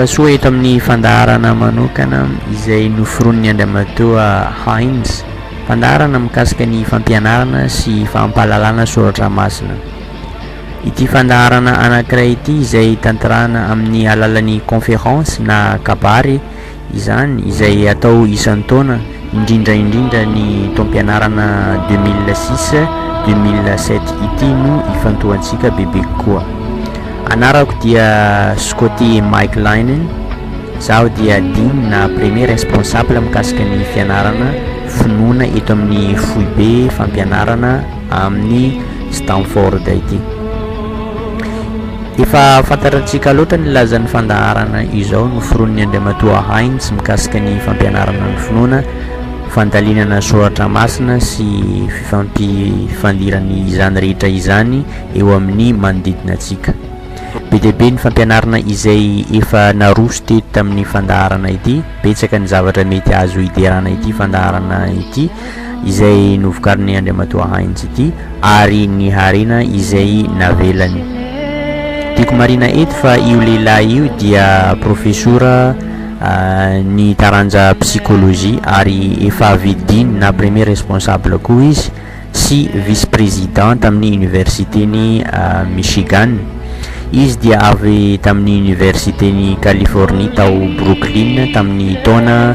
Tongasoa eto amin'ny fandaharana manokana izay noforon'ny Andriamatoa Heinz, fandaharana mikasika ny fampianarana sy fampahalalana soratra masina. Ity fandaharana anankiray ity izay tanterahina amin'ny alalan'ny conférence na kabary izany izay atao isan-taona indrindra indrindra ny taom-pianarana deux mille six deux mille sept ity no ifantohantsika bebe kokoa. Anarako dia Scotty Mike Linen, zaho dia Dean na premier responsable mikasika ny fianarana finoana eto amin'ny foibe fampianarana amin'ny Stanford ity. Efa fantatratsika loatra ny lazan'ny fandaharana izao noforonin'ny Andriamatoa Heinz mikasika ny fampianarana ny finoana, fandalinana soratra masina sy fifampifandirany izany rehetra izany eo amin'ny manodidina antsika. Be dia be ny fampianarana izay efa naroso teto tamin'ny fandaharana ity, betsaka ny zavatra mety azo hiderana ity fandaharana ity, izay novokarin'i Andriamatoa Heinz ity ary ny harena izay navelany. Tiako marina eto fa io lehilahy io dia profesora ah, ny taranja psychologie ary efa vidiny na premier responsable koa izy sy vice président tamin'ny université-ny ah, Michigan. Izy dia avy tamin'ny université-ny Californie tao Brooklyn tamin'ny taona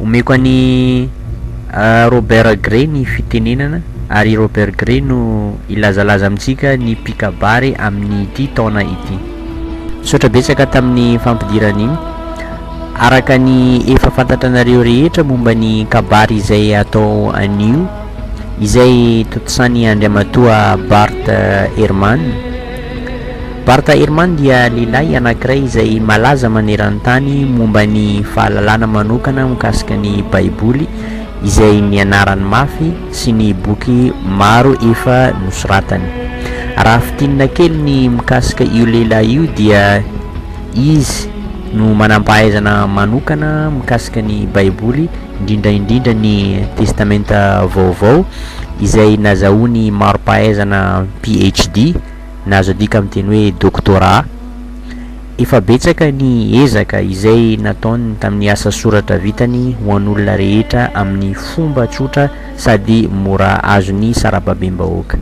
Omeko an'i Robert Gray ny fitenenana ary i Robert Gray no hilazalaza amintsika ny mpikabary amin'ity taona ity. Misaotra betsaka tamin'ny fampidirana iny. Araka ny efa fantatra anareo rehetra momba ny kabary izay atao anio, izay tontosain'i Andriamatoa Bart Ehrman, Bart Ehrman dia lehilahy anankiray izay malaza maneran-tany momba ny fahalalana manokana mikasika ny Baiboly, izay nianarany mafy, sy ny boky maro efa nosoratany. Raha fintinina kely ny mikasika io lehilahy io, dia izy no manam-pahaizana manokana mikasika ny Baiboly, indrindra indrindra ny Testamenta Vaovao, izay nazahoany mari-pahaizana PhD. na azo adika amin'ny teny hoe doctorat. Efa betsaka ny ezaka izay nataony tamin'ny asa soratra vitany ho an'olona rehetra amin'ny fomba tsotra sady mora azon'ny sarababem-bahoaka.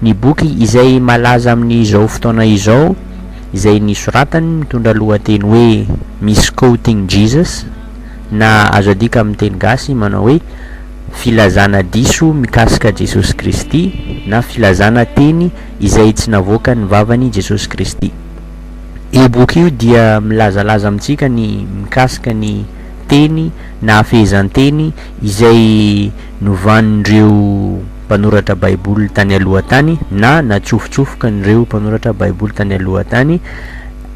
Ny boky izay malaza amin'izao fotoana izao izay nisoratany mitondra lohateny hoe Misquoting Jesus, na azo adika amin'ny teny gasy manao hoe Filazana diso mikasika Jesosy Kristy na filazana teny izay tsy navoakan'ny vavan'i Jesosy Kristy. Io boky io dia milazalaza amintsika ny mikasika ny teny na fehezanteny izay novan'ireo mpanoratra Baiboly tany aloha tany na natsofotsofokan'ireo mpanoratra Baiboly tany aloha tany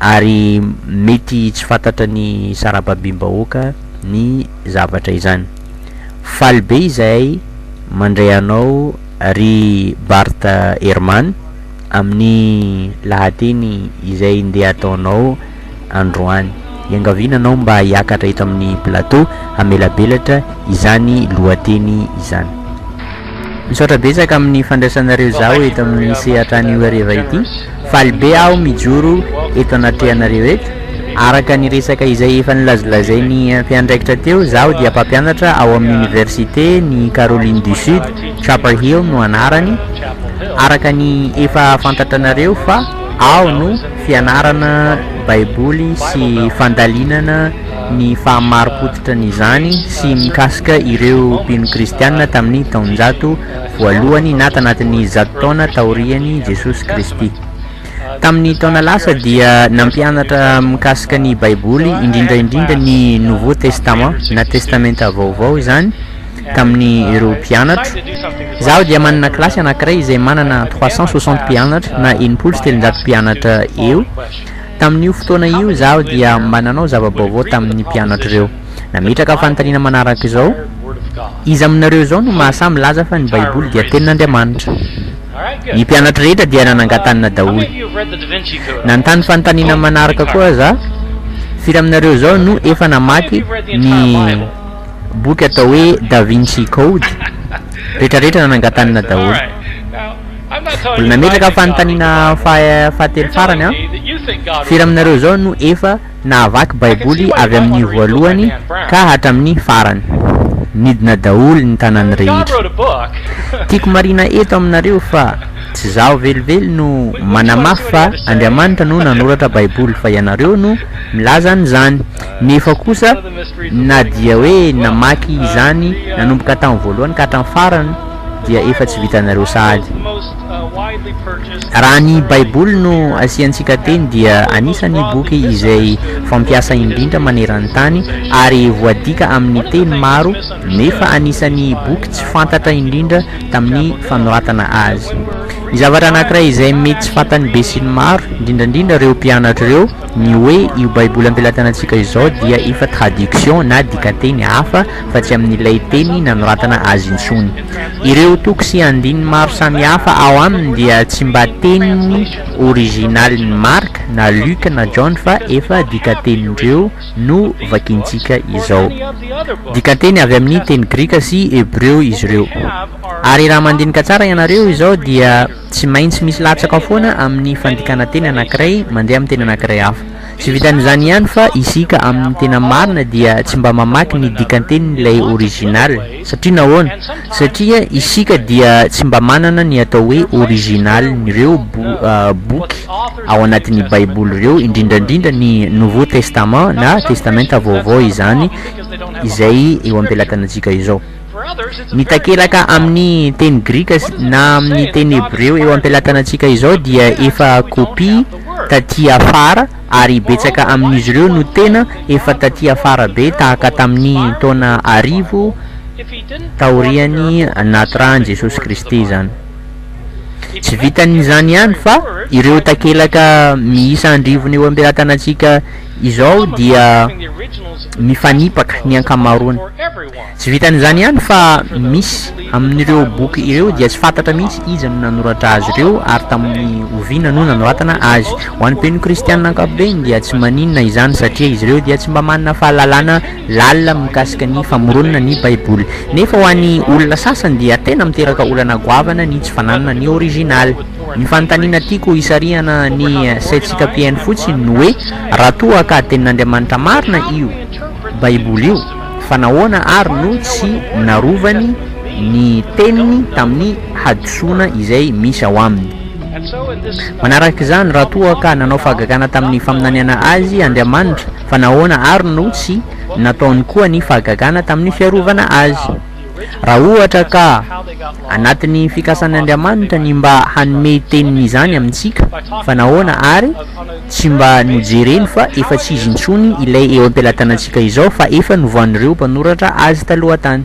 ary mety tsy fantatra ny sarababim-bahoaka ny zavatra izany. Faly be izahay mandray anao ry Bart Ehrman amin'ny lahateny izay ndeha ataonao androany. Iangaviana anao mba hiakatra eto amin'ny plateau hamelabelatra izany lohateny izany. Misaotra betsaka amin'ny fandraisanareo izaho eto amin'ny sehatra anio hariva ity. Faly be aho mijoro eto anatrehanareo eto. Araka ny resaka izay efa nilazolazain'ny mpiandraikitra teo, izaho dia mpampianatra ao amin'ny Oniversite ny Caroline du Sud, Chapel Hill no anarany. Araka ny efa fantatranareo fa ao no fianarana Baiboly sy fandalinana. ny fahamari-pototra ny izany sy mikasika ireo mpino kristiana tamin'ny taonjato voalohany na tanatin'ny zato taona taorian'i Jesosy Kristy. Tamin'ny taona lasa dia nampianatra mikasika ny Baiboly, indrindra indrindra ny Nouveau Testament na Testamenta Vaovao izany tamin'ny ireo mpianatro. Izaho dia manana kilasy anankiray izay manana trois cent soixante mpianatra na enimpolo sy telonjato mpianatra eo. Tamin'io fotoana io, izaho dia mba nanao zava-baovao tamin'ny mpianatra ireo. Nametraka fanontaniana manaraka izao, Iza aminareo izao no mahasahy milaza fa ny Baiboly dia Tenin'Andriamanitra? Ny mpianatra rehetra dia nanangan-tanana daholo. Nanontany fanontaniana manaraka koa aza, Firy aminareo izao no efa namaky ny boky atao hoe Da Vinci Code? Rehetrarehetra nanangan-tanana daholo. Mbola nametraka fanontaniana fahatelo farany aho, Firy aminareo izao no efa nahavaky Baiboly avy amin'ny voalohany ka hatramin'ny farany? Nidina daholo ny tanany rehetra. Tiako marihina eto aminareo fa tsy izaho velively no manamafy fa Andriamanitra no nanoratra Baiboly fa ianareo no milaza an'izany. Nefa kosa na dia hoe namaky izany nanomboka tamin'ny voalohany ka hatramin'ny farany, dia efa tsy vitanareo sahady. Raha ny Baiboly no asiantsika teny dia anisan'ny boky izay fampiasa indrindra maneran-tany ary voadika amin'ny teny maro nefa anisan'ny boky tsy fantatra indrindra tamin'ny fanoratana azy. Ny zavatra anankiray izay mety tsy fantan'ny besinimaro, indrindrandrindra ireo mpianatra ireo, ny hoe io Baiboly ampelantanantsika izao dia efa traduction na dikanteny hafa fa tsy amin'ilay teny nanoratana azy intsony. Ireo toko sy andininy maro samihafa ao aminy dia tsy mba teny orizinalin'i Marc na Luc na John fa efa dikantenin'ireo no vakintsika izao. Dikanteny avy amin'ny teny grika sy hebreo izy ireo. Ary raha mandinika tsara ianareo izao dia tsy maintsy misy latsaka foana amin'ny fandikana teny anankiray mandeha amin'ny teny anankiray hafa. Tsy vitan'izany ihany fa isika amin'ny tena marina dia tsy mba mamaky ny dikan-tenin'ilay original. Satria nahoana? Satria isika dia tsy mba manana ny atao hoe original-n'ireo boky ao anatin'ny Baiboly ireo, indrindra indrindra ny Nouveau Testament na Testamenta Vaovao izany izay eo am-pelatanantsika izao. Ny takelaka amin'ny teny grika na amin'ny teny hebreo eo am-pelatanantsika izao dia efa kopia tatỳ afara, ary betsaka amin'izy ireo no tena efa tatỳ afara be, tahaka tamin'ny taona arivo taorian'ny nahaterahan'i Jesosy Kristy izany. Tsy vitan'izany ihany, fa ireo takelaka miisa andrivony eo am-pelatanantsika izao dia mifanipaka ny ankamaroany. Tsy vitan'izany ihany fa misy amin'ireo boky ireo dia tsy fantatra mihitsy iza no nanoratra azy ireo ary tamin'ny oviana no nanoratana azy. Ho an'ny mpino kristiana ankapobeny dia tsy maninona izany satria izy ireo dia tsy mba manana fahalalana lalina mikasika ny famoronana ny Baiboly. Nefa ho an'ny olona sasany dia tena miteraka olana goavana ny tsy fananana ny originaly. Ny fanontaniana tiako hisarihana ny saintsika mpihaino fotsiny no hoe raha toa ka Tenin'Andriamanitra marina io Baiboly io, Fa nahoana àry no tsy narovany ny teniny tamin'ny hadisoana izay misy ao aminy? Manaraka izany, raha toa ka nanao fahagagana tamin'ny faminaniana Azy Andriamanitra, fa nahoana àry no tsy nataony koa ny fahagagana tamin'ny fiarovana Azy? Raha ohatra ka anatin'ny fikasan'Andriamanitra ny mba hanome teniny izany amintsika, fa nahoana àry tsy mba nojereny fa efa tsy izy intsony ilay eo am-pelatanantsika izao fa efa novan'ireo mpanoratra azy taloha tany?